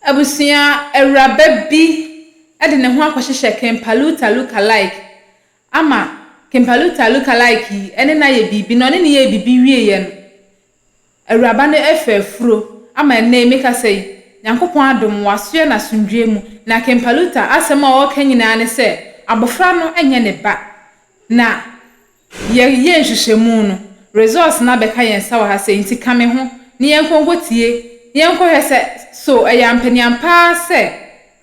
Abusua awuraba bi de ne ho akɔhyehyɛ Kimpalooter lookalike ama Kimpalooter lookalike yi ne no ayɛ biribi, na ɔne no yɛɛ biribi wieeɛ no, awuraba no afa afuro ama ɛnnɛ yi mekasa yi, Nyankopɔn adom, wasoɛ no asomdwoeɛ mu. Na Kimpalooter asɛm a ɔreka nyinaa ne sɛ, abɔfra no nyɛ ne ba, na. Yɛreyɛ nhwehwɛmu no, results no abɛka yɛn nsa wɔ ha sɛ enti ka me ho na yɛnkɔ nkɔtie na yɛnkɔhwɛ sɛ so ɛyɛ ampaniampa ara sɛ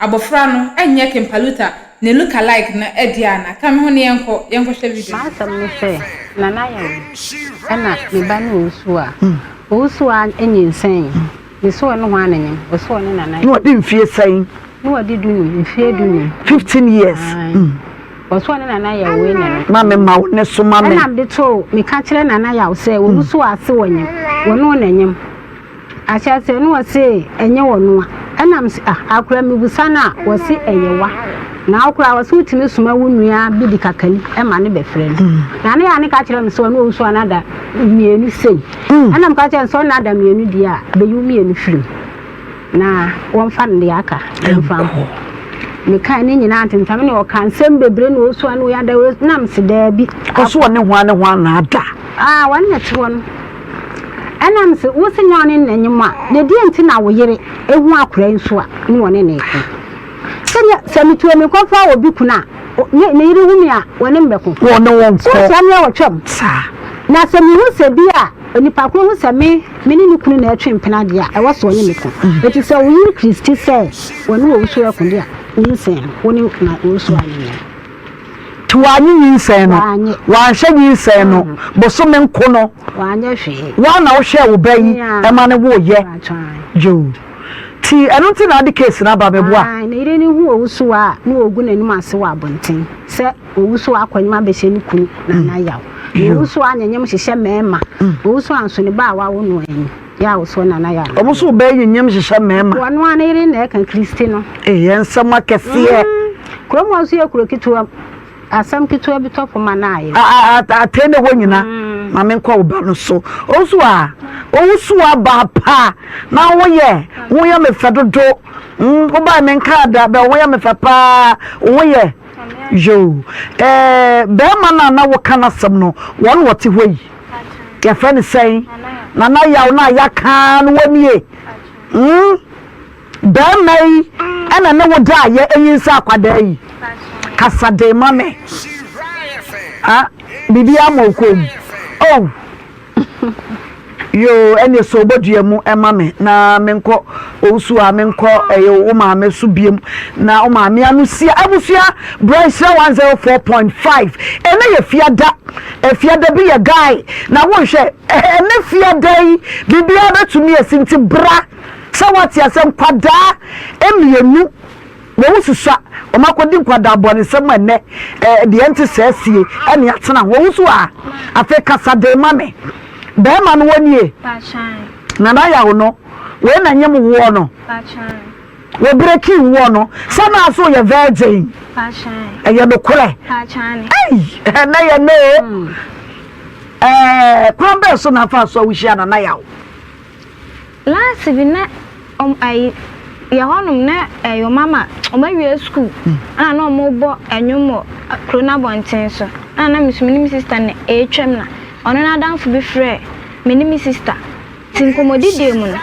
abɔfra no nyɛ Kimpaluta ne look-alike no deɛ anaa. Ka me ho na yɛnkɔ, yɛnkɔhwɛ video no. M'asɛm ne sɛ, Nana yɛ wo ɛna me ba ne Owusu a. Owusu a nyinsɛn. Ne sɔɔ ne hwaa ne nyem. Ɔsɔɔ ne nana. Ne ɔde mfie sɛn? Ne ɔde du num, mfie du num. Fifteen years. Ae. Ɔsɔɔ ne nana yaw wei na no. Ma me ma wo ne so ma me. Ɛna mede too, meka kyerɛ nana yaw sɛ, wɔn so ase wɔ nyem. Wɔnoo na nyem. Ahyɛaseɛ no ɔse ɛnyɛ wɔno a. Ɛna mese ah, akora mebusa no a, ɔse ɛyɛ wa. Na wo koraa ɔse wotumi soma wo nua bi de kakali ma no bɛfrɛ no. Nana yaw no ka kyerɛ me sɛ ɔne ɔwusu anada mmienu sei. Ɛnna meka kyerɛɛ no sɛ, Ɔnna ada mmienu deɛ a, beyi wo mmienu firi mu, na wɔmfa ne deɛ aka mfa nkɔ. Mekae ne nyinaa ntentam ne ɔka nsɛm bebree na ɔsua no ada na mese daabi. Ɔso ɔne hwan ne hwan na ada? Ah, wɔne na ɛte hɔ no. Ɛnna mese, wo se nyɛ ɔne na nyem a, na deɛ nti na wo yere ehu akora yi nso a ne wɔne na ɛko? Sɛdeɛ sɛ metu amikɔfa obi kunu a, ne ne yere wu me a, wɔne me bɛko. Wɔne wo nko. So wokyerɛ me a wɔtwam? Saa. Na sɛ mihu sɛ bi a onipa koro hu sɛ me, me ne ne kunu na ɛretwe mpena deɛ a, ɛwɔ sɛ ɔne me ko. Enti sɛ wo yere Kristi sɛ wɔne wo owusɔre ako deɛ a, nyinsɛn no, wo ne na owusɔre anyɛ no. Nti wanyɛ nyinsɛn no? Wanyɛ. Wanhwɛ nyinsɛn no? Bosome nko no? Wanyɛ hwee. Wo ara na wohwɛɛ wo ba yi ma no woeɛ? Yoo. Ti ɛno nti na ade case no aba meboa. Ae ne yere no hu owusowa a na ogu n'anim ase wɔ abonten sɛ owusowa akɔnyem abɛhyɛ ne kunu nana yaw. Na owusowa anyenyem hyehyɛ mmarima. Owusowa nso ne ba a wawo no anyi yɛ awosoɔ nana yaw no. Ɔmo nso bɛɛ nyenyem hyehyɛ mmarima. Wɔ noa ne yere na ɛka Christy no. Eeɛ nsɛm akɛseɛ. Kurom hɔ nso yɛ kuro ketewa mu. Asɛm ketewa bi tɔ poma no ayɛ. Atɛn na ɛwɔ nyina ma menkɔ wo ba no so. Ɔnso a ɔwusu aba pa na wo yɛ wo yɛ me fɛ dodo. Wo ba me nka ada bɛ wo yɛ me fɛ paa wo yɛ yo. Bɛɛma no a na wo ka no asɛm no wɔn wɔ te hɔ yi yɛfrɛ no sɛn? Nana yaw no a yɛaka no wɔ nie? Barima yi na ne wo daa yɛ nyinsɛn akwadaa yi kasa dee ma me ah biribiara ma ɔkɔɔ mu oh yoo ɛneɛ sɛ ɔbɔdua mu ɛma me na menkɔ ɔwusu a menkɔ ɛyɛ wo maame so biam na wo maame ano sia abusua berɛ nhyira 104.5 ɛnɛ yɛ fiada fiada bi yɛ guy na wonhwɛ ɛnɛ fiada yi biribiara bɛtumi asi nti bra Sɛ woate asɛ nkwadaa mmienu wɔn susua wɔn akɔdi nkwadaa bɔnesɛm a ɛnɛ deɛ nte saa sie ɛne atena ho wosu a afei kasa de ma me bɛrima no wɔnie nana yawo no wei na nyem woɔ no wɔ breki woɔ no sɛ naa so yɛ virgin ɛyɛ nokorɛ ɛnɛ yɛ no kwan bɛɛ so na afa so a wohyia nana yawo Last bi na ɔm ayi yɛ hɔnom na ɛyɛ ɔma ma ɔma awie sukuu ɛna na ɔmo bɔ ɛnwom wɔ kuro no abɔnten so ɛna na me so me ne me sista na ɛretwam na ɔno n'adamfo bi frɛ me ne me sista ti nkɔmɔdidie mu no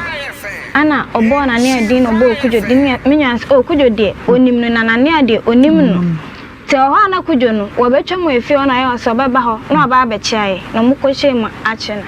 ɛna ɔbɔɔ nanea din na ɔbɔɔ kudwo din me me nua sɛ o kudwo deɛ onim no na nanea deɛ onim no te wɔ hɔ a na kudwo no wɔbɛtwa mu efie hɔ na ɔyɛ ɔsɛ ɔbɛba hɔ na ɔba abɛkyia yɛ na ɔmo kɔhyɛ mu akyɛ na.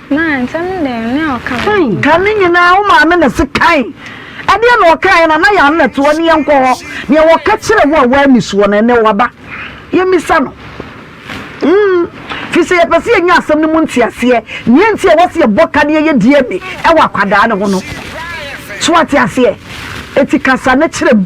Mae, nsɛm dɛn na ɔka wɔ ho? Kan ne nyinaa, wo maame na se kan. Ɛdeɛn na ɔkaeɛ no anaa yɛn na toɔ ne yɛnkɔ hɔ. Deɛ wɔka kyerɛ wo a woanni soɔ no, ɛnnɛ waba. Yɛmmisa no. Mm. Firi sɛ yɛpɛ sɛ yɛnya asɛm no mu nteaseɛ, nea enti a ɛwɔ sɛ yɛbɔ ka na yɛyɛ DNA wɔ akwadaa no ho no. So wate aseɛ? Enti kasa na kyerɛ mu.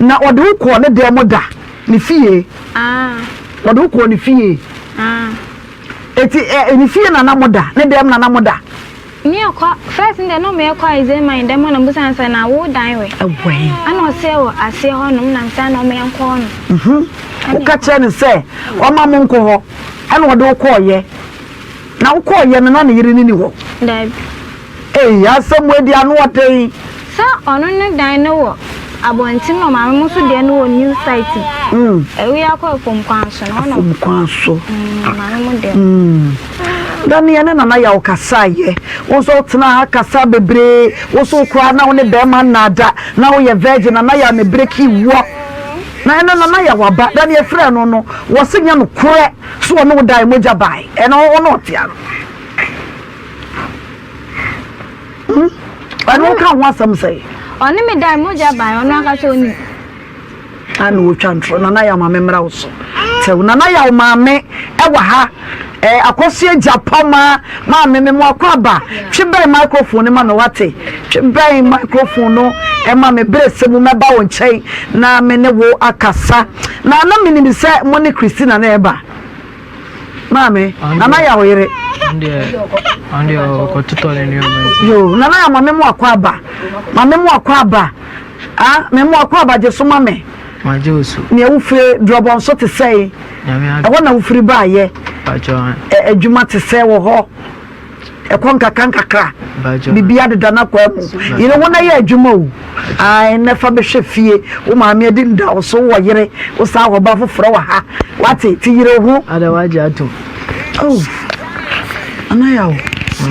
Na ɔde wo kɔɔ ne dan mu da, ne fie. Ɔde wo kɔɔ ne fie. Eti ɛ ne fie na na mo da, ne dan mu na na mo da. Meekɔ first no deɛ na meekɔ Aizee man dan mu na mebusa sɛ na wo dan wɛ? Ɛwɛn. Ɛna ɔseɛ wɔ aseɛ hɔ nom na mesan na ɔmeɛ nkɔ hɔ nom. Woka kyerɛ no sɛ ɔma mo nkɔ hɔ ɛna ɔde wo kɔɔyɛ. Na wo kɔɔyɛ no na ne yere no ni hɔ? Daabi. Eii asɛm wei deɛ ano ɔden. Sɛ ɔno ne dan no wɔ abɔnten na maame mo nso deɛ no wɔ new site mu ɛwei akɔ afom kwan so no ɔnɔ afom kwan so maame mo deɛ na ne yɛne nana yɛ ɔkasa yɛ wo nso wotena ha kasa bebree wo nso koraa na wo ne bɛrima nnaada na woyɛ virgin nana yɛ ne bere ki wɔ na ɛna nana yɛ waba da ne yɛfrɛ no no wɔse nyɛ no korɛ so ɔne wo dan mogya bae ɛna ɔne ɔtea no ɔno nka ho asɛm sɛ ɔne me dan mogya ban ɔno ankasa onim ana wɔtwa ntorɔ nana yɛ maame mmra wo so tɛw nana yɛ wo maame ɛwɔ ha ɛɛ akɔso agya pɔ ma maame me mo akɔ aba twe bɛn microphone ma no wate twe bɛn microphone no ɛma me bere sɛ mu mɛba wo nkyɛn na me ne wo akasa na na menim sɛ mo ne christina na ɛba Maame, Nana ya wo yere. Ɔno deɛ ɔkɔtotɔ ne nneɛma nti. Yoo, Nana ya ma me mu akɔ aba. Ma me mu akɔ aba. Ah, me mu akɔ aba gye so ma me. Ma gye osu. Nea wofiri drɔbɔ nso te sɛe. Ɛhɔ na wofiri baayɛ. Adwuma te sɛ wɔ hɔ. ɛkɔ nkakra nkakra biribi adeda no akɔ amu yere wo na yɛ adwuma o ae na fa bɛhwɛ fie wo maame adi nda wo so wɔ yere wo saa wɔ ba foforɔ wɔ ha wate ti yere ho ada wagye atom oh anaya o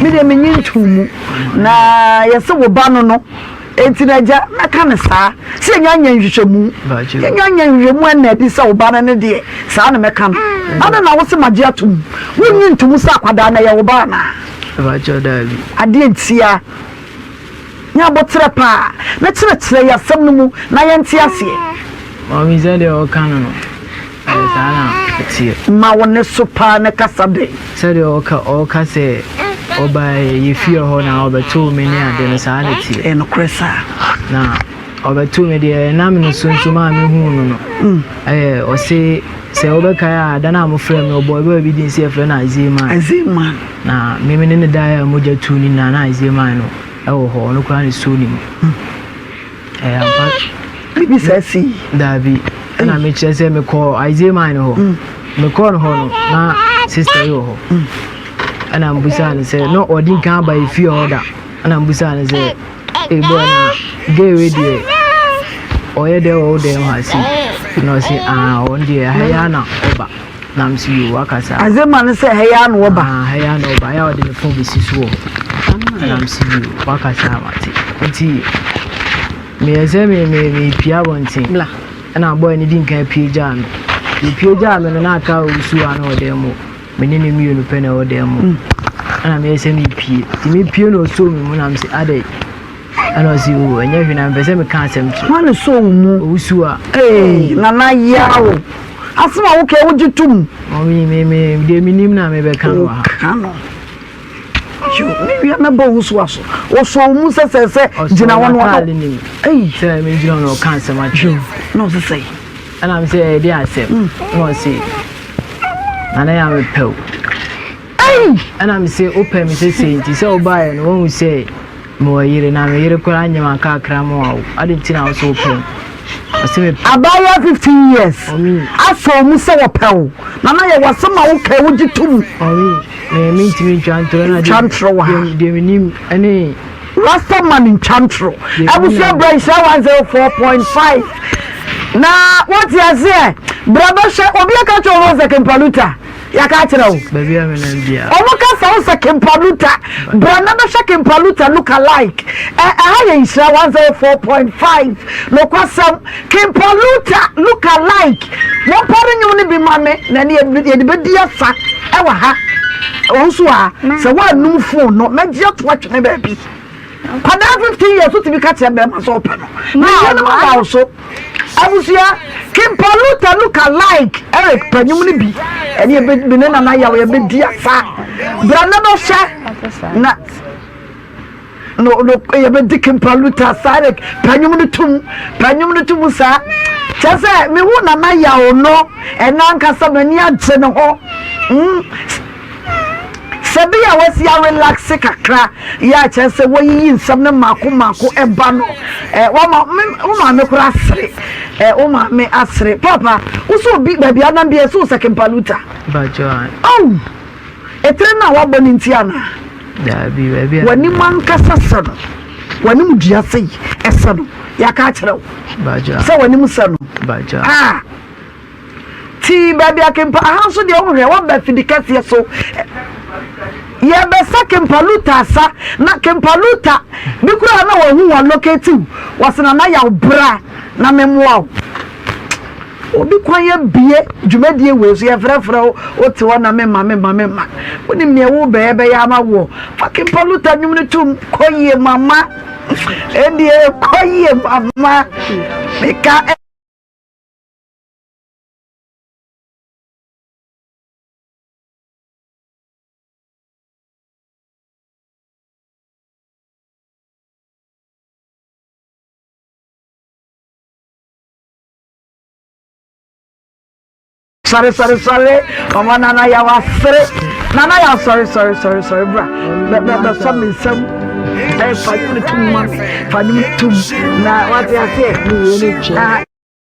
me deɛ menye ntom mu na yɛse wo ba no no Enti na agya mɛka no saa, sɛ yɛnnya nyɛ nhwehwɛmu. Yɛnnya nyɛ nhwehwɛmu ɛnna adi sɛ wo ba no ne deɛ, saa na mɛka no. Adɛn na wose magye atom? Wonnye ntom sɛ akwadaa no yɛ wo ba anaa? Adeɛ ntia. Nyɛ aboterɛ paa, na kyerɛkyerɛ yɛn asɛm no mu na yɛnte aseɛ. Maame, sɛdeɛ woka no no. Ɛyɛ saa na ɛteɛ. Ma wo nne so paa na kasa dɛn. Sɛdeɛ ɔka ɔka sɛ ɔbaeɛ yɛ fie hɔ na ɔbɛtoo me ne adeɛ no saa na ɛteɛ. Ɛyɛ nokorɛ saa. Na ɔbɛtoo me deɛ ɛnam ne so nso maa me huu no no mm. ɛyɛ ɔse sɛ wobɛkae a da no a mofrɛ me ɔbɔ ɛbɛba bi din sɛ yɛfrɛ no Isaiah man. Isaiah man. Na me ne ne daeɛ a mogya tu ne nyinaa na Isaiah man no ɛwɔ hɔ ɔno koraa ne suo ne mu. Mm. ɛyɛ ampa biribi saa sii daabi ɛna mekyerɛ sɛ mekɔɔ isaiah man no hɔ mm. mekɔɔ no hɔ no na sister yi wɔ hɔ mm. ɛna mbusaa no sɛ na ɔde nka aba ɛfie hɔ da ɛna mbusaa no sɛ ɛbɔ na gay wei deɛ ɔyɛ dɛ wɔ wo dɛm ha si na ɔse aa ɔn deɛ ɛha yɛ ana ɔba Nam si yi wakasa. Adze ma no sɛ ha yi ara na ɔba. Ah, ha yi ara na ɔba. Ayɛ a ɔde ne fon besi so wɔ hɔ. Nam si yi wakasa mate. Nti meyɛ sɛ me me mepia abɔnten. Bla. Ɛna bɔyɛ no di nka apue gyaa me. Yɛpue gyaa me no na aka a ɔwusu a na ɔdan mu. Me ne ne mmienu pɛ na ɛwɔ dan mu. Mm. Ɛna meyɛ sɛ mepie. Nti mepie na ɔsoo me mu nam sɛ adɛn. Ɛna ɔsi o ɛnyɛ hwee na mpɛ sɛ meka asɛm kyerɛ. Hwan sɔ wo mu? Owusu a. Ee nana yaw. Asɛm a wokɛ wogye tom. Ɔmi me me deɛ mi nim na mi bɛ ka no ha. Ka no. Mi wia mɛ bɔ owusu aso. Ɔsɔ wo mu sɛsɛsɛ gyina wɔn wɔn. Ɔsɔ nim. Ee. Sɛ mi gyina wɔn ɔka asɛm atwi. Na ɔsi sɛ. Ɛna mi sɛ ɛde asɛm. Na ɔsi nana yaw mi pɛw. Ɛna me se wopɛ me sesei nti sɛ wobaeɛ no woahu sɛ mewɔ yere na me yere koraa nyɛ mankakra ma wawo ade nti na wo so wopɛ me abaayewa 15 years asɔ mu sɛ wɔpɛ wo na na yɛwɔ asɛm a wokae wogye to mu mentumi ntwa ntorɔ wɔ ha deɛ menim ne rastaman ntwantoro abusua bra nhyira 104.5 na wote aseɛ bra bɛhwɛ obi aka kyɛ rose kempaluta yɛaka akyerɛ wo ɔmo ka sɛ wo sɛ kimpaluta bra na bɛhwɛ kimpaluta look alike ɛha yɛ nhyira 104.5 nokwasɛm kimpaluta look alike mompare nnwom no bi ma me na ne yɛde bɛdi asa ɛwɔ ha ɔwo so a sɛ woanum fon no mɛgye ato atwene baabi Nkwadaa fifteen years wotumi ka kyerɛ bɛrima sɛ ɔpɛ no. Na yɛn mu da so. Abusua Kimpa Luta Luka like Eric panyum no bi ɛne ebe bi ne nana yaw yɛbɛ di asa. Bra na bɛ hyɛ na no no yɛbɛ di Kimpa Luta sa Eric panyum no tum panyum no tum sa. Kyɛ sɛ mehu nana yaw no ɛna ankasa m'ani agye ne ho. Mm. Sɛ bere a wɔasi arelaxe kakra yi a kyerɛ sɛ wɔayiyi nsɛm no mmaako mmaako ba no, eh, wɔma me, wo maame koraa asere. Eh, wo maame asere. Papa, wo sɛ obi baabi anam bi ɛsɛ wo sɛ Kimpaluta. Bajoan. Oh! Etire no a wabɔ no nti ana? Daabi, baabi a. W'anim ankasa sɛ no. W'anim dua sɛ yi, ɛsɛ no. Yɛaka akyerɛ wo. Bajoan. Sɛ w'anim sɛ no. Bajoan. Ah! Tee baabi a kempa aha nso deɛ wohwɛ waba fidi kɛseɛ so yɛbɛsa kempa luta asa na kempa luta bi koraa na wɔhu wɔn locate wɔse na na yaw bra na memmoa wo obi kwan abie dwumadie wei so yɛfrɛfrɛ wo wote hɔ na mema mema mema wonim neɛ wo bɛyɛ bɛyɛ ama woɔ fa kempa luta nnwom no tom kɔ yie mama ɛdeɛ kɔ yie mama meka sɔre sɔre sɔre ɔmɔ nana yà wà sere nana yà sɔre sɔre sɔre sɔre bra bɛ bɛ bɛ sɔ mi nsam ɛ fa nyom tum ma mi fa nyom tum na wà á ti ase ẹ mi yẹ ni twẹ.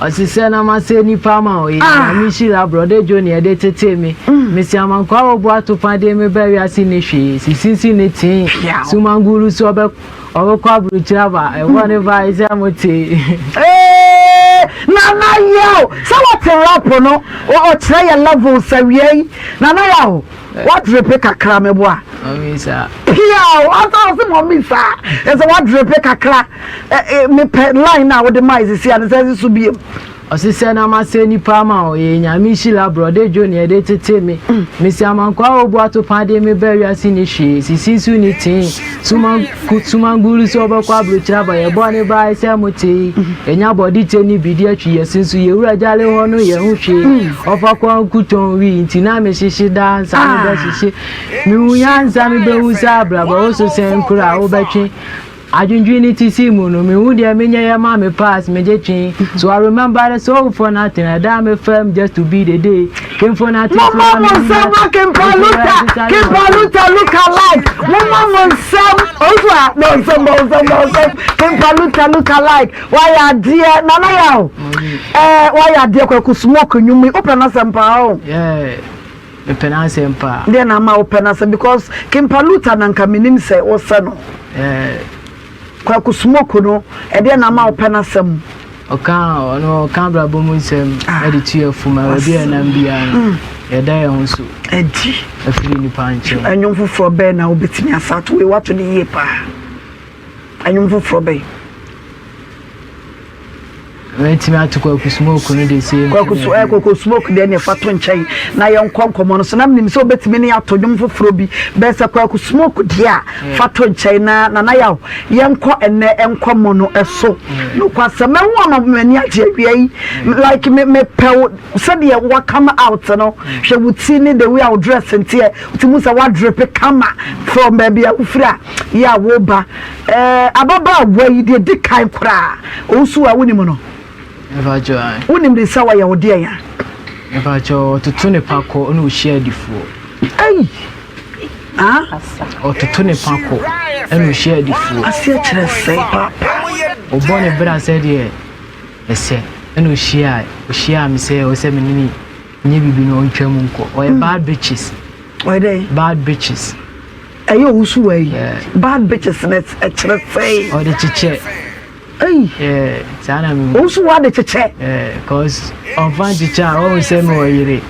ɔsesɛ na masɛ nipa ma ɔyɛ ah. me hyira brɔde dwo neɛ de tetee me mm. mesi amankoa a wɔbu ato fa deɛ mebɛ wiase ne hwee sisisi ne tee sumanguru so ɔbɛkɔ aburokyiri aba ɛwɔ ne ba ɛsɛ mo tee nana yɛ o sɛ wɔte rapo no ɔkyerɛ yɛ levels awiei nana yɛ o Wadrepe kakra meboa. Mami saa. Piaw asa ɔsi mami saa. Ɛsɛ wadrepe kakra. Mepɛ line na wode maa esisi a ne sɛ so biem. Ɔsesɛ na masɛ nipa ama o yɛ nyame hyila brɔde dwo neɛ de tete me. Mesi amankwa a obu ato paa de me ba wiase ni hwee sisi so ni tee. Suma suma ngulu sɛ ɔbɛkɔ aburokyerɛ aba yɛ bɔ ne baa sɛ mo tee ɛnya mm. bɔde kyɛ ne bidi atwi yɛ se nso yɛwura gyale hɔ no yɛ ho hwee mm. ɔfa kɔ nkutɔn wi nti na mehyehye daa nsa no ah. bɛhyehye mehu ya nsa no bɛhu sɛ abraba wo so sɛn kora a wobɛtwe adwendwen ne ti si mu no mehu deɛ menyɛ yɛ ma me pass megye twe so i remember the soul for nothing ɛda me fam just to be the day Momma mo nsɛm ma Kempa Luta, Kempa Luta Luka like. Momma mo nsɛm, ɔnso a na nsɛm na nsɛm na nsɛm. Kempa Luta Luka like. Wayɛ adeɛ nana yɛ o. Ɛɛ wayɛ adeɛ kwaku smoke nwom yi. Wopɛ n'asɛm paa o. Mepɛ n'asɛm paa. Deɛ na ama wopɛ n'asɛm because Kempa Luta na nka menim sɛ wosɛ no. Kwaku Smoke no, ɛdeɛn na ama wopɛ n'asɛm mu? Ɔka ɔno ɔka abrabɔ mu nsɛm ah. de tu yɛ fom a baabi a ɛnam biara no mm. yɛda yɛn ho so adi afiri nipa nkyɛn. Ɛnwom foforɔ bɛn na wobɛtumi asa ato wei wato ne yie paa. Ɛnwom foforɔ bɛn? Wetumi ato kwaku smoke no de sɛ kwaku so ɛ kwaku smoke deɛ ne fa to nkyɛn na yɛn nkɔ nkɔmɔ no so na menim sɛ obetumi ne ato dwom foforɔ bi bɛn sɛ kwaku smoke deɛ a mm. fa to nkyɛn na nana yaw yɛn nkɔ ɛnɛ nkɔmɔ no ɛso mm. nokwasɛm ɛho ama m'ani agye awia yi mm. like me me pɛw sɛdeɛ wa come out no hwɛ wo ti ne the way a wo dress nteɛ ti mu sɛ wa drip kama from baabi a wofiri a yɛ a wo ba Ɛɛ ababaawa yi deɛ di kan koraa ɔwusu a wonim no? Mepakyɛw ae. Wonim no sɛ ɔyɛ wo deɛn a? Mepakyɛw ɔtoto ne pako na ɔhyia adifoɔ. Ei! Ah? Ɔtoto ne pako na ɔhyia adifoɔ. Aseɛ kyerɛ sɛn paapaa? Ɔbɔ ne bra sɛdeɛ ɛsɛ na ɔhyia ɔhyia me sɛ ɔsɛ me ne no nyɛ biribi na ɔntwam nkɔ. Ɔyɛ bad bitches. Ɔyɛ dɛ. Bad bitches. Ɛyɛ eh, ɔwusu wɔ yi. Bad bitches na ɛkyerɛ sɛɛ. Ɔde kyekyɛ. Ɛyi. Saa na mi. Ɔwusu wɔ ade kyekyɛ. Cause ɔnfa nkyekyɛ a ɔwɔ sɛ mi wɔ yere.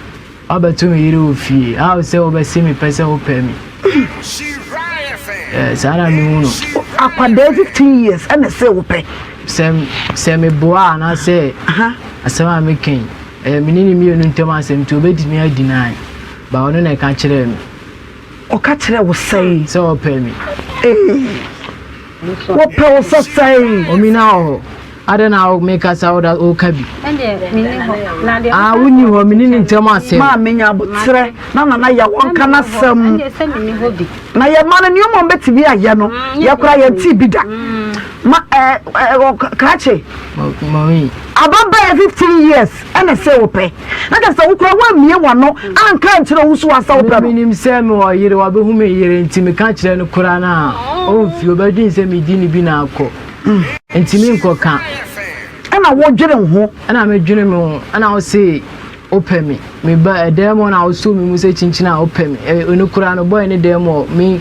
Ɔbɛto mi yere wɔ fie. A ɔwɔ sɛ ɔbɛsi mi pɛ sɛ ɔpɛ mi. Saa na mi hu no. Akwadaa fifteen years ɛna ɛsɛ ɔpɛ. Sɛ sɛ mi boa anaasɛ asɛm a mi kɛn. Ɛyɛ mi ne ne mmienu ntɛm asɛm nti obedi mi adi naayi. Ba ɔno na ɛka kyerɛɛ me. Ɔka kyerɛɛ wo sɛn? Sɛ ɔpɛ me. Ee, wɔpɛ wo sɛ sɛn? Omi na wɔ hɔ. Adɛn na mekasa woda woka bi? A wonni hɔ, me ne ne ntam asɛm. Maa menya aboterɛ na nana yɛ wɔnka n'asɛm. Na yɛma no nneɛma a ɔbɛtumi ayɛ no, yɛkora yɛntee bi da. Ma ɛɛ Kaakye. Mami. Ababaawa fifteen years ɛna sɛ wɔpɛ. na kyerɛ sɛ wo koraa woammie w'ano anka ankyerɛ wo so ansa wobra no. Menim sɛ mewɔ yere, wabehu me yere, nti meka kyerɛ no koraa no a, omfi, obedwen sɛ medi no bi na akɔ. Nti menkɔka. Ɛna wodwene wo ho. Ɛna medwene me ho, ɛna wo se wopɛ me. Meba ɛdan mu na wosoo me mu sɛ kyinkyin a wopɛ me. Ɛno koraa no, bɔe no dan mu hɔ, me.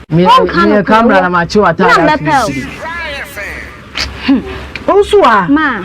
Wonka no kura wo. Na makye w'ataade afi wo siri. Ɔnso a. Ma.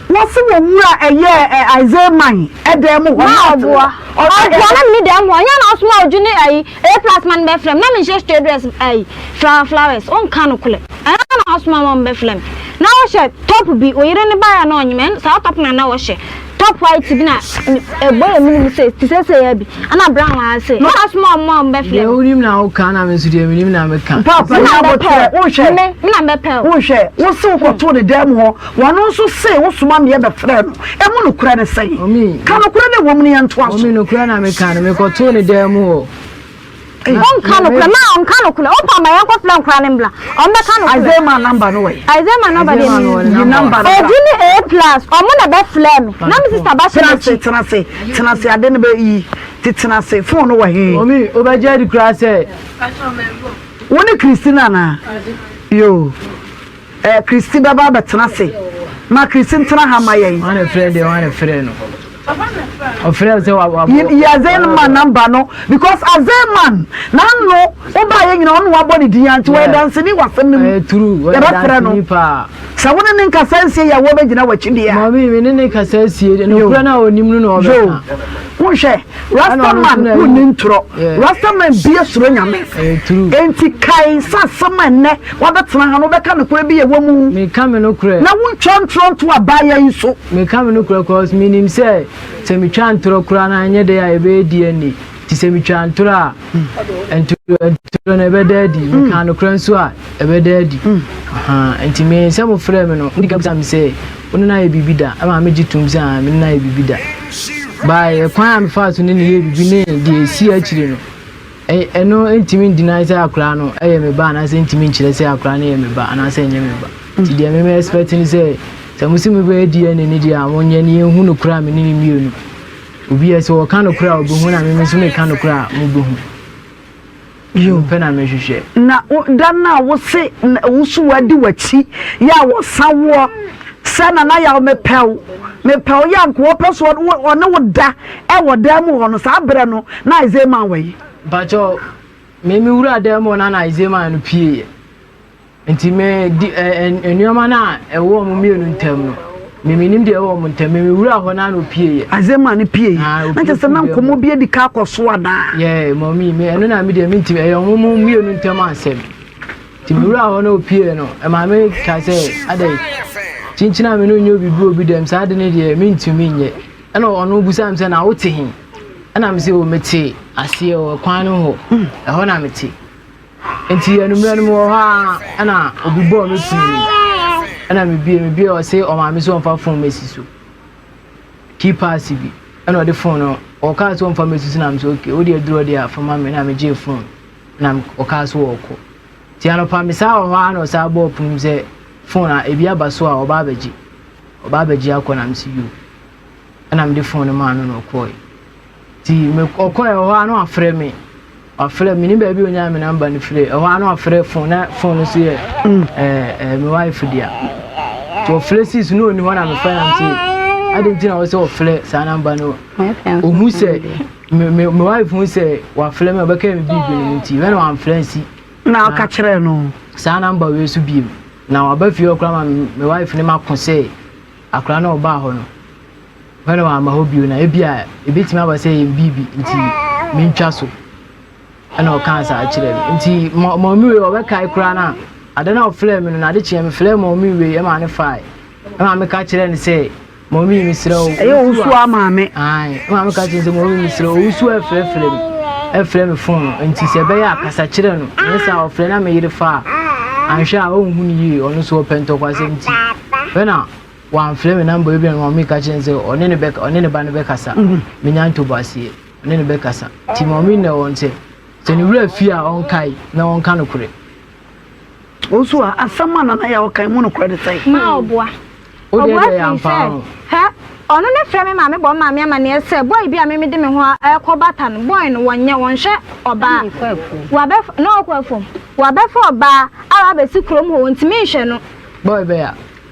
Wɔsi wɔ nwura ɛyɛ ɛ Isaiah man ɛdɛm mu hɔ. Ma ɔboa. Ɔboa na mini dɛm hɔ. Nya na ɔsoma ɔdwo ne ayi A plus man bɛ frɛ me na me nhyɛ straight dress ayi flower flowers ɔnka no korɛ. Ɛna na ɔsoma ma ɔmbɛ frɛ me. Na ɔhyɛ top bi oyere ne baayɛ na ɔnyem ɛn saa top na na ɔhyɛ. Top white bi na ɛbɔ yɛ mene mu sɛ ti sɛ sɛ yɛ bi ana brown wa ase mo asoma ɔmo a ɔmo bɛ fɛ. Deɛ wonim na woka na me nso deɛ menim na meka. Papa na abotire wohwɛ me me na mɛpɛ o. Wohwɛ wo se wokɔtoo ne dan mu hɔ wɔno nso se wosoma meɛ bɛfrɛ no ɛmu nokorɛ ne sɛn? Ka nokorɛ na ɛwɔ mu no yɛntoa so. Omi nokorɛ na meka no mekɔtoo ne dan mu hɔ. Ɔnka nokorɛ, maa ɔnka nokorɛ. Ɔmpa ama yɛn nkɔ frɛ nkora no mbra. Ɔmo bɛ ka nokorɛ. Isaiah maa number no wɔ he? Isaiah maa number deɛ mi nim. Yi number no bra. Edi ne A plus, ɔmo na bɛ frɛ mi. Na me sister ba hyɛ m'akyi. Tenase, tenase, tenase ade no bɛ yi. Te tenase, phone no wɔ he? Omi, obɛ gye adi koraa sɛ. Wo ne Christina anaa? Yoo. Eh Christy bɛba abɛtena ase. Ma Christy ntena ha ma yɛn. Ɔne frɛ deɛ ɔne frɛ no. Ɔfrɛ sɛ wa wa. Yi yi Azen man number no because Azen man n'ano ɔba yɛ nyina ɔno wabɔ ne din ya nti wɔyɛ danseni wɔ asɛm no mu. Ɛyɛ true wɔyɛ danseni paa. Sɛ wo ne ne nkasa nsie yɛ wɔbɛgyina w'akyi deɛ a. Maame me ne ne kasa sie deɛ nokura no a ɔnim no na ɔbɛka. Yo wonhwɛ. Rastaman ho ni ntorɔ Rastaman bia suro nyame enti kae sɛ asɛm a ɛnɛ wabɛtena ha no wobɛka nokorɛ bi yɛ wamu na wontwa ntorɔ nto abaayɛ yi so. Meka me nokorɛ cause menim sɛ sɛ metwa ntorɔ koraa no anyɛ dɛ a ɛbɛyɛ di ani nti sɛ metwa ntorɔ a ntorɔ no ɛbɛda adi meka nokorɛ nso a ɛbɛda adi nti me sɛ mofrɛ me no mode ka bisa me sɛ Wo ne no ayɛ biribi da? Ɛma megye tom sɛ aa, me ne no ayɛ biribi da. Bae, ɛkwan a mefaa so ne no yɛɛ biribi ne deɛ ɛsii akyire no, ɛno ntumi ndinae sɛ akwadaa no yɛ me ba anaasɛ ntumi nkyerɛ sɛ akwadaa no yɛ me ba anaasɛ ɛnyɛ me ba. Nti deɛ me me expect ne sɛ, sɛ mo se mobɛyɛ DNA ne deɛ a, monyɛ ne yɛnhu no korɛ a me ne no mmienu. Obi a sɛ ɔka no korɛ a ɔbɛhu na me nso meka no korɛ a mobɛhu. Yo. Ɛno pɛ na mehwehwɛ. Na wo da no a wose na woso wadi w'akyi yɛ a wɔsa woɔ sɛ Nana Yaw mepɛ wo mepɛ wo yɛ a nka wɔpɛ so wɔne wo da wɔ dan mu hɔ no saa berɛ no na Isaiah Mann wɔ yi? Mpakyɛw, me me wuraa dan mu hɔ na na Isaiah Mann no pieeɛ. Nti me di ɛ ɛ nneɛma no a ɛwɔ wɔn mmienu ntam no, me menim deɛ ɛwɔ wɔn ntam, me me wura hɔ na na opieeɛ. Adze maa no pieeɛ. Ah, Na kyerɛ sɛ na opie nkɔmmɔ bi adi ka akɔ so anaa? Yɛɛ, mɔmi, me ɛno na me deɛ mentumi, ɛyɛ wɔn mu mmienu ntam asɛm. Nti me wura hɔ na opieeɛ no, ɛma me ka sɛ, adɛn, kyinkyin a me ne wo nyɛ obi bi obi dɛm, saa ade no deɛ mentumi nyɛ. Ɛna ɔno bisaa me sɛ, na wote he? Ɛna mese, o mete aseɛ o, kwan no hɔ, ɛhɔ na mete. Nti anwummerɛ no mewɔ hɔ a ɛna obi bɔɔ me firi mu ɛna mebie mebie ɔse ɔmaame sɛ ɔmfa fon mesi so key pass bi ɛna ɔde fon no ɔkaa sɛ ɔmfa mesi so na mesɛ ok wode aduro deɛ afa ma me na megyee fon na ɔkaa sɛ ɔɔkɔ nti anɔpa me saa wɔ hɔ a na ɔsaa bɔɔ pono mu sɛ fon a ebi aba so a ɔba abɛgye ɔba abɛgye akɔ na mesi yo ɛna mede fon no maa no na ɔkɔɔe Nti mekɔkɔɛ hɔ a na wafrɛ me. Wafrɛ me ne baabi a ɔnyaa me namba no firi. Ɛhɔ a na wafrɛ fon na fon no so yɛ mm. ɛɛ ɛɛ me wife dea. Nti ɔfrɛ sis na ɔni hɔ na mefrɛ nam sɛ adi nti na ɔsɛ ɔfrɛ saa namba no. Ɔhu sɛ me me me wife hu sɛ wafrɛ me ɔbɛka me bibi no nti wɛn na wamfrɛ nsi. Na ɔka kyerɛ no. Saa namba wei so biem na waba fie ɔkora ma me wife ne ma ko sɛ akora na ɔbaa hɔ no. Hɔ na wamma hɔ bio na ebi a ebetumi aba sɛ ɛyɛ biribi nti mentwa so ɛna ɔkaa saa kyerɛ me nti maame wei ɔbɛkae koraa no a ade no a ɔfrɛ me no na ade kyeɛ mefrɛ maame wei ɛma ne fae ɛma meka kyerɛ no sɛ maame mesrɛ wo ɛyɛ owusu a maame ɛma meka kyerɛ sɛ maame mesrɛ wo owusu a ɛfrɛfrɛ me ɛfrɛ me fon no nti sɛ ɛbɛyɛ akasa kyerɛ no ɛnyɛ sɛ a ɔfrɛ na meyere fa a anhwɛ a ɔnhu no yie ɔno so ɔpɛ ntɔkwasɛm nti fɛ na Wamfrɛ me na mbom ebia no Maame ka kyerɛɛ no sɛ ɔne no bɛka ɔne ne ba no bɛkasa. Menya ntoboaseɛ, ɔne no bɛkasa. Nti Maame na wɔn sɛ sɛ ne wura fie a ɔnkae na ɔnka nokorɛ. Wo nso a asɛm a nana yɛ a ɔkae mu nokorɛ de sɛn? Ma ɔboa. Wo deɛ Ɔboa deɛ firi sɛ, yɛamfaa ho. hɛ, ɔno ne frɛ me maame bɔ maame amaneɛ sɛ boy bi a me mede me ho ɛɛkɔ bata no, boy no wɔnyɛ, wɔnhwɛ ɔbaa. Wabɛ, na ɔɔkɔ afuom. Wabɛfa ɔbaa a wabɛsi kurom hɔ, wɔntumi nhwɛ no. Boy bɛya.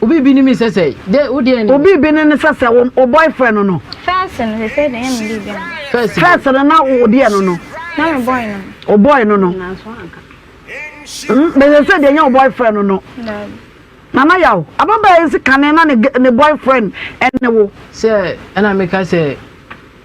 Obi bi no mi sɛ sɛ dɛ wo deɛ ne. Obi bi no ne sɛ sɛ wo wo boyfriend no. First no sɛ sɛ dɛ ɛyɛ me deɛ bi no. First bi. First no na wo deɛ no no. Na me boy no no. Wo boy no no. Nanso anka. Mm bɛsɛ sɛ deɛ ɛnyɛ wo boyfriend no no. Daabi. Nana yaw ababaa yi si kane na ne ne boyfriend ɛne wo. Sɛ ɛna meka sɛ.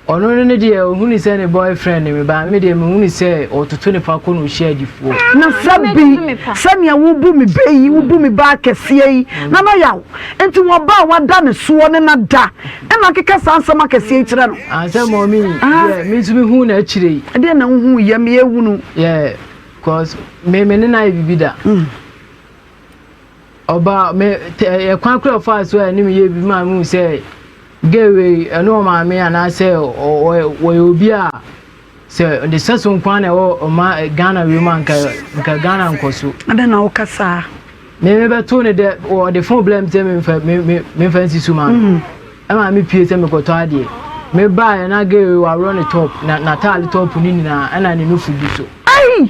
Ɔno no ne deɛ ɔhunu sɛ ne boyfriend ne me ba me deɛ mehunu sɛ ɔtoto ne fa kɔ na ɔhyia adifoɔ. Na sɛ bi sɛnea wobu me bɛ yi wobu me bɛ akɛseɛ yi na na yaw nti wɔ ba a wada ne soɔ ne na da ɛna akeka saa nsɛm akɛseɛ yi kyerɛ no. Ansɛ mɔmi deɛ me nso mehuu no akyire yi. Ɛdeɛ na wohuu yɛ me yɛ hunu. Yeah cause me me ne no ayɛ biribi da. Mm. Ɔbaa me ɛyɛ kwan kora ɔfaa so a ɛne me yɛ bi maa me hu sɛ gay wei ɛne ɔmaame anaasɛ wɔyɛ obi a sɛ ne sɛ so nkwa na ɛwɔ ɔma Ghana wei mu anka nka Ghana nkɔ so. Adɛn na woka saa? Me me bɛto ne dɛ wɔde fon blɛ me sɛ memfa me me memfa nsi so ma no. Ɛma me pie sɛ mekɔtɔ adeɛ. Me baa yɛ na gay wei waworɔ ne top na n'ataade top ne nyinaa ɛna ne nufu gu so. Ai!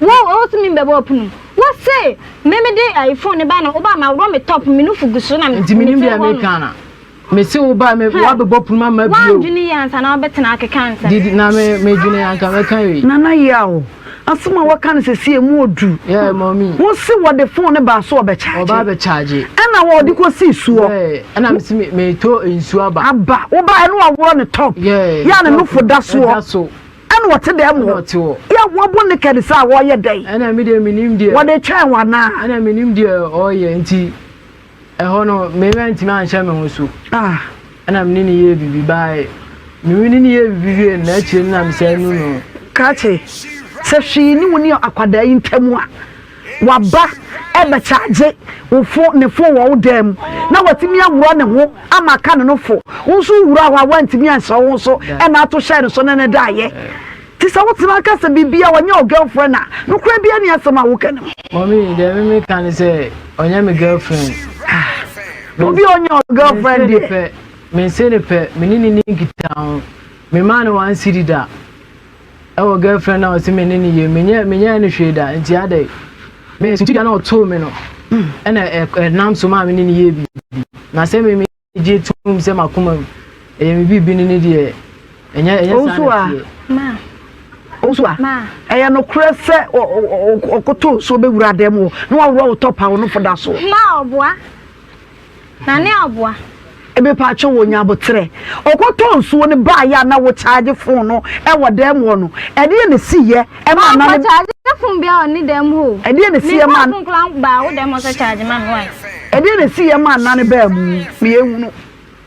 Wo wo se me bɛbɔ ɔpono mu. Wo se me me de ayi phone ne ba na wo ba ma worɔ me top me nufu gu so na me. Nti me nim deɛ me ka na. Me se wo ba me wa bɛbɔ pono ma ma bio. Wa dwene yi ansa na wo bɛ tena akeka ansa. Didi na me me dwene anka me ka yi. Nana yaw. Asem a waka no sɛsi emu odu. Yeah mommy. Wo se wɔ de phone ne ba so ɔbɛ charge. Ɔba bɛ charge. Ɛna wɔ de kɔ si suɔ. Yeah ɛna me se me me to nsu aba. Aba wo ba ɛna wa worɔ ne top. Yeah. Ya ne nufu da soɔ. Da so. Ɛna ɔte dɛn mu hɔ? Yɛ wɔabu ne kɛne sɛ a wɔreyɛ dɛn? Ɛna me deɛ menim deɛ. Wɔde twɛn wo anaa? Ɛna menim deɛ ɔreyɛ nti ɛhɔ no me mantumi anhyɛ me ho so. Ah. Ɛna me ne ne yɛɛ biribi baae. Me ne ne yɛɛ biribi wie na akyire no na me sɛ nu no. Kakye sɛ hwee ne wo ne akwadaa yi ntam a Waba rebɛkyaagye wo fo ne fo wɔ wo dan mu na watumi aworɔ ne ho ama aka ne no fo. Wo nso wowuraa hɔ a woantumi anhyɛ wo ho so na ato hyɛɛ ne so ne no daeɛ. Nti sɛ wotena ka sɛ biribiara a ɔnyɛ wo girlfriend a, nokorɛ biara nni asɛm a woka no mu. Mummy, deɛ me meka ne sɛ ɔnyɛ me girlfriend. Ah, obi a ɔnyɛ wo girlfriend deɛ. Mense ne pɛ, me ne ne nni nkitaho. Memaa no one cedi da. Ɛwɔ girlfriend a ɔse me ne no yie menyɛ menyɛɛ no hwee da nti adɛn me suti da na ɔtoo me no ɛna ɛnam so maa me ne no yɛɛ biribi na sɛ me megye tom sɛ makoma mu ɛyɛ me biribi no ne deɛ ɛnyɛ ɛnyɛ saa na teɛ. Ma. Owusu a. Ma. Ɛyɛ nokorɛ sɛ ɔkoto so bɛwura dan mu na waworɔ wo tɔpa wo no fo da so. Ma ɔboa. Na ne aboa. Mepatwo wɔ nya aboterɛ. Ɔkɔtɔ nsuo no baa yɛ a na wo charge phone no ɛwɔ dɛm hɔ no ɛdeɛ na esi yɛ ɛma nane. Ɔkɔ charge phone bia wɔ ne dɛm hɔ o. Ɛdeɛ na esi yɛ ma. Me phone kura baa wo dɛm hɔ sɛ charge ma me why. Ɛdeɛ na esi yɛ ma nane baa mu meyɛ hunu.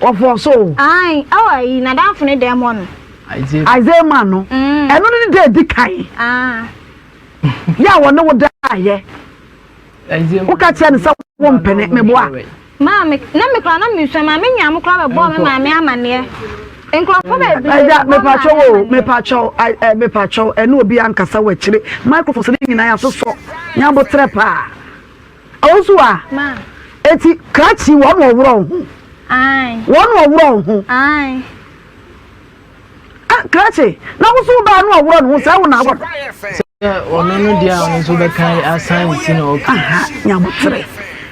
Wɔfɔɔ so o. Ae oh ayi nadamfo ne dɛm hɔ no. Isaiah man no ɛno ne ne da edi kan yɛ a wɔne wo daayɛ woka kyerɛ no sɛ wo mpene meboa. Maame na me kora na mesua maame nyaa mo kora bɛbɔɔ me maame amaneɛ nkurɔfo bebree. Ɛgya mepatwɛ wo mepatwɛ wo ɛ mepatwɛ wo ɛne obi ankasa wɔ akyire microphones ne nyinaa yasosɔ nyabotrɛ paa. Ɔwosu a, eti krakye wɔn wɔ worɔ ho. Wɔn wɔ worɔ ho. A krakye, na wosu baa no wɔ worɔ no ho sɛ wo na awɔ no. Sɛ ɔno no deɛ a ɔno nso bɛka asan ne ti na ɔka. Aha, nyabotere.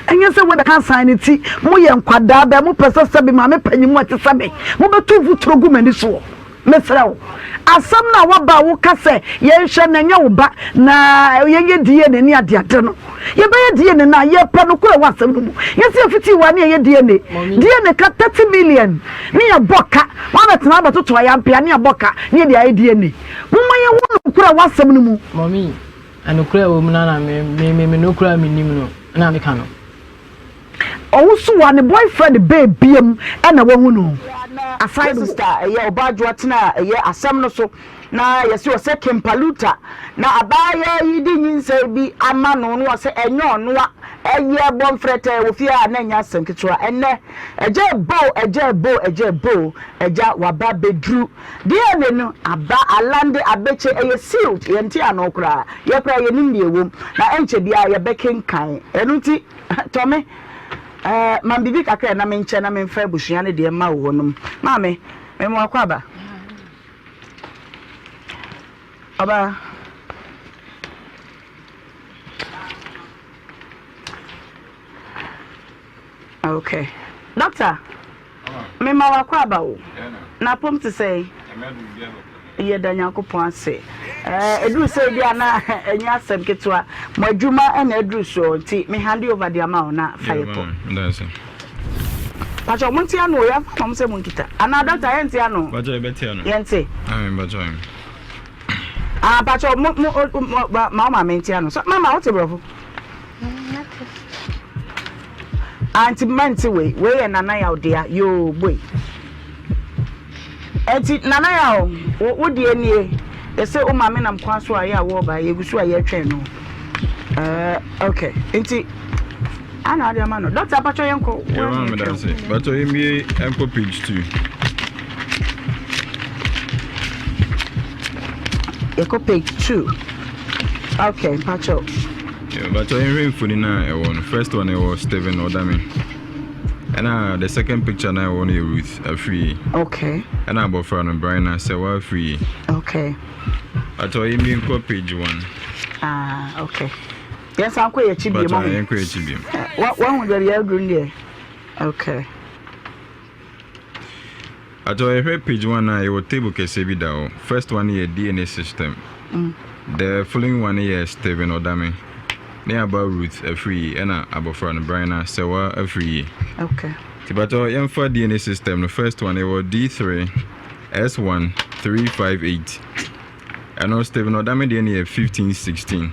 Ɛnyɛ sɛ wei bɛka asan ne ti. Moyɛ nkwadaa bɛɛ, mopɛ sɛ sɛbe maame panyin mu a ɛte sɛ me, mobɛtu mfuturo gu m'ani soɔ. Mesrɛ wo, asɛm no a woaba a woka sɛ yɛnhwɛ na ɛnyɛ wo ba na yɛnyɛ DNA ne adeade no, yɛbɛyɛ DNA no a, yɛpɛ nokorɛ wɔ asɛm no mu. Yɛse yɛfitii wo a ne yɛyɛ DNA. DNA ka 30 million ne yɛbɔ ka, woabɛtena abɛtoto a yɛampɛ a ne yɛabɔ ka ne yɛde ayɛ DNA. Momma yɛwɔ nokorɛ wɔ asɛm no mu. Mummy, nokorɛ a ɛwɔ mu no ara na me, me, me, me nokorɛ a menim no na meka no. Owusu a ne boyfriend bɛɛ bia mu na wahu no aside wɔ. Sister a ɛyɛ ɔbaa dwoa tena a ɛyɛ asɛm no so na yɛse ɔsɛ Kimpaluta na abaayaa yi de nyinsɛn bi ama no na ɔse ɛnyɛ ɔno a ɛyɛ bɔ mfrɛtɛɛ wɔ fie a na ɛnyɛ asɛm ketewa ɛnnɛ agya boo agya boo agya boo agya waba bɛduru DNA no aba alande abɛkyɛ ɛyɛ sealed yɛnte ano koraa yɛ koraa yɛnim deɛ ɛwom na ɛnkyɛ biaa yɛbɛkenkan ɛno nti Tɔ me eh, ma me biribi kakra na menkyɛ na memfa abusua no deɛ mma wo hɔ nom. Maame, mema wo akwaaba. Ɔbaa. Okay. Doctor. Mema w'akwaaba o. N'apom te sɛn? Yɛda Nyankopɔn ase. Ɛɛ, ɛduru sɛ ebi a na ɛnyɛ asɛm ketewa. Mo adwuma na ɛduru soɔ nti me hande over de ama wo na fa yɛ pɔ. Pakyɛ ɔmo nte ano o, yɛmfa ma ɔmo sɛ mo nkita. Anaa doctor yɛnte ano o? Pakyɛ yɛbɛte ano. Yɛnte. Amen pakyɛ ɔyɛ. Ah pakyɛ mo mo ma wo maame nte ano. Mama wote borɔfo? Aunty mma nte wei, wei yɛ Nana Yaw dea, yoo boy. Enti Nana Yaw, wo, wo deɛ nie, yɛsɛ wo maame nam kwan so a yɛ a wɔreba, yɛgu so a yɛretwɛn no. Uh, okay, nti ana ade ama no. Dɔkta apatwɔ yɛn kɔ. Yɛ maa mi dan se, bàtɔ yɛ mie ɛnkɔ page two. Yɛ kɔ page two. Okay, mpatwɔ. Mpakyɛw yɛnhwɛ mfoni no a ɛwɔ no. First one no ɛwɔ Stephen Odame. Ɛna the second picture no a ɛwɔ no yɛ Ruth Afriyie. Okay. Ɛna abɔfra no Brina Sɛwa Afriyie. Okay. Mpakyɛw yɛn mi nkɔ page one. Ah, okay. Yɛn san kɔ yɛ akyi biem. Mpakyɛw yɛn kɔ yɛ akyi biem. Wɔn ho deɛ yɛ aduru deɛ. Okay. Atɔ yɛhwɛ page one a yɛwɔ table kɛseɛ bi da hɔ. First one yɛ DNA system. Mm. The following one yɛ Stephen Odame. Ne aba Ruth afiri yi ɛna abɔfra no Brina Sɛwa afiri yi. Okay. Ti batɔ yɛmfa DNA system no first one yɛwɔ D3 S1 358. Ɛno Stephen Odame deɛ no yɛ 1516.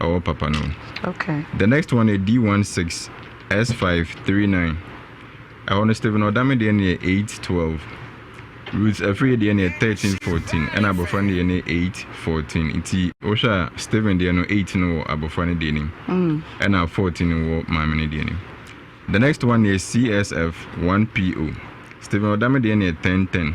ɔwɔ papa no okay the next one yɛ d one six s five three nine ɛhɔ no stephen ɔdame deɛ no yɛ eight twelve ruth afiri deɛ no yɛ thirteen fourteen ɛna abɔfra no deɛ no yɛ eight fourteen nti wohwɛ a stephen deɛ no eight no wɔ abɔfra no deɛ nim mm. ɛna fourteen wɔ maame no deɛ nim the next one yɛ csf one po stephen ɔdame deɛ no yɛ ten ten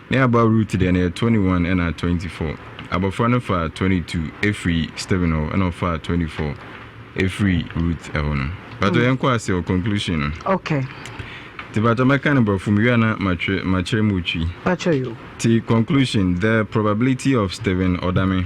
Ne aba Ruth deɛ no yɛ twenty one ɛna twenty four. Abɔfra no faa twenty two ɛfiri Stephen hɔ ɛna ɔfaa twenty four ɛfiri Ruth ɛhɔ no. Patɔ yɛn kɔ ase wɔ conclusion no. Okay. Ti patɔ mɛka no brɔfo mewie a na matwe makyerɛ mu otwi. Patɔ yo. Ti conclusion the probability of Stephen Odame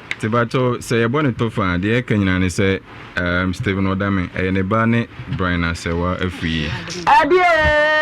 Te batɔ sɛ yɛbɔ ne tɔfa a deɛ ɛka nyinaa ne sɛ um, Stephen Odame, ɛyɛ ne ba ne Brian Asɛwa afiri yi. Adeɛ!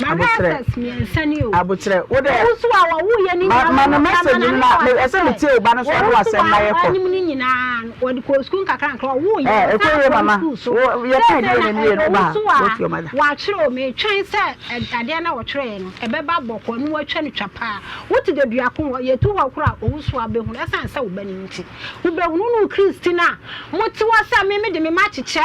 Aboterɛ aboterɛ wo dɛ ma ma no message no na me ɛsɛ me tie oba no so ɔno asɛm na yɛ kɔ ɛɛ ɛkɔ yie mama wo yɛ pɛn deɛ na nie no ba ha wo fi ɔma da. Wɔatwerɛ o metwɛn sɛ adeɛ no a wɔtwerɛɛ no ɛbɛba bɔkɔɔ na wɔatwa no twa paa wote Daduako hɔ yɛtu hɔ koraa a Owusu a bɛhunu ɛsiane sɛ wo ba no nti wobɛhunu wone wo Christy no a mote hɔ sɛ me mede me ma kyekyɛ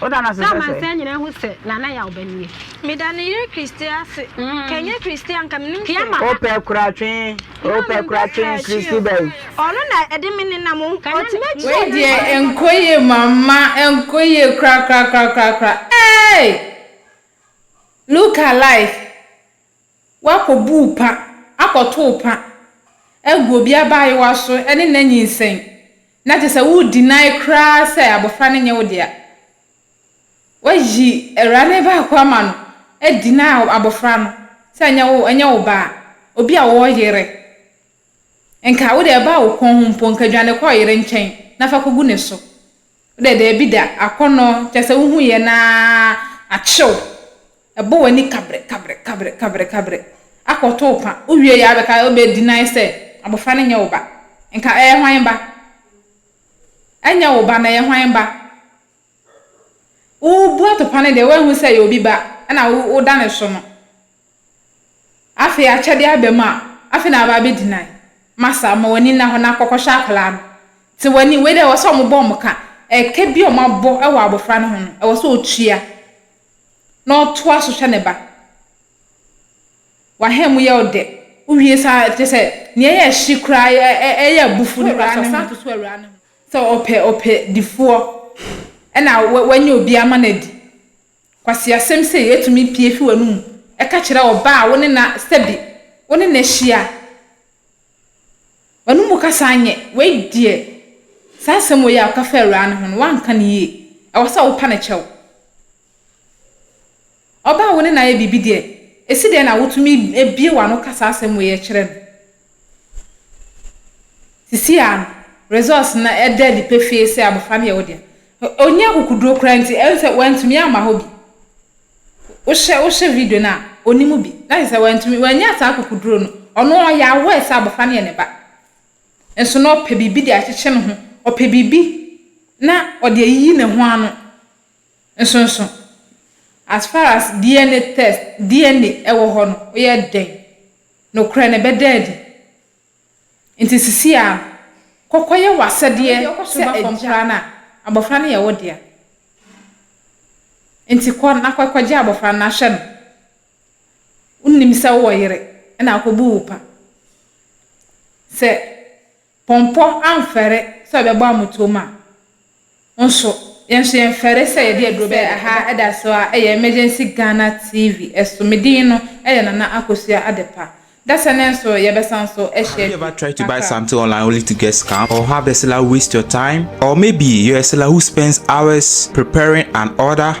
Sɛ amansan nyinaa hu sɛ Nana yɛ ɔbani yi. Meda ne yere Christy ase. Ka ɛnyɛ Christy a nka menim hwee. Wopɛ kora twe, wopɛ kora twe Christy bɛn. Ɔno na ɛde me nenam o. Ɔtumi akyi o. Wei deɛ ɛnkɔ yie mama ɛnkɔ yie korakorakorakorakora eeii look alive. Woakɔbuu pa, akɔtoo pa agu obi abaayewa so ne n'anyinsɛn, na kyerɛ sɛ wo deny koraa sɛ abɔfra no nyɛ wo dea. Woayi awurade no baako ama no adeny abɔfra no sɛ ɛnyɛ wo ba a, obi a wɔyere. Nka wo de ɛbaa wo kɔn ho mpo, nka dwane kɔ ɔyere nkyɛn na fa kogu ne so. Wo de, daabi da, akɔnnɔ, kyerɛ sɛ wuhu yɛn ara, akye wo. Ɛbɔ w'ani kabre, kabre, kabre, kabre, kabre. Akɔto wo pa. Wuwie yɛ a wobɛka, wobɛ deny sɛ abofra no nyɛ wo ba. Nka ɛyɛ hwan ba? Ɛnyɛ wo ba no, ɛyɛ hwan ba? Wubu atopa no deɛ, woanhu sɛ ɛyɛ obi ba na woda ne so no. Afei akyɛde aba mu a, afei na waba abɛgyinae. Masa, ma w'ani nna hɔ na kɔkɔhwɛ akwadaa no. Te w'ani, wei deɛ ɛwɔ sɛ wɔbɔ wɔn ka. Ɛka bi a wɔabɔ wɔ abɔfra no ho no, ɛwɔ sɛ ɔtua na ɔtoa so hwɛ ne ba. W'aha mu yɛ wo dɛ. Wowie saa a, kyerɛ sɛ nea ɛyɛ hye koraa, ɛyɛ abufuo no koraa ne ho. Sɛ ɔpɛ ɔpɛdifoɔ na wanya obi ama no adi. Nkwaseasɛm sei tumi pue fi w'anom ka kyerɛ ɔbaa a wo ne no sɛbe wo ne no ahyia. W'anom kasa nyɛ, wei deɛ, saa asɛm wei a woka fa awuraa no ho no, woanka no yie. Ɛwɔ sɛ wopa no kyɛw. Ɔbaa a wo ne no ayɛ biribi deɛ, ɛsi dɛn na wotumi bue w'ano ka saa asɛm wei kyerɛ no? Sesei ara no, results no ɛda adi pefee sɛ abofra no yɛ wo dea. Onni akokoduru koraa nti, ɛne sɛ wantumi amma hɔ bi. Wohwɛ wohwɛ video no a, onni mu bi. Na kyerɛ sɛ wantumi, wannya saa akokoduru no. Ɔno ɔyɛ aware sɛ abofra no yɛ ne ba. Nso na ɔpɛ biribi de akyekye ne ho. Ɔpɛ biribi na ɔde ayiyi ne ho ano. Nso nso, as far as DNA test, DNA wɔ hɔ no, woyɛ dɛn Nokorɛ no ɛbɛda adi. Enti sisi yi ara no, kɔ kɔyɛ w'asɛdeɛ sɛ ɛba fam koraa no a, abɔfra no yɛ wo dea. Enti kɔ na kɔgye abɔfra no na hwɛ no. Wonnim sɛ wowɔ yere na akɔbu wo pa. Sɛ. Pɔmpɔ amfɛre sɛ ɔbɛbɔ amotom a, nso yɛn nso yɛmfɛre sɛ yɛde aduro bɛyɛ aha ɛda so ara ɛyɛ Emergency Ghana TV so me din no ɛyɛ Nana Akosua Adepa dasɛ ne nso yɛbɛsan nso ahyia bi kakra.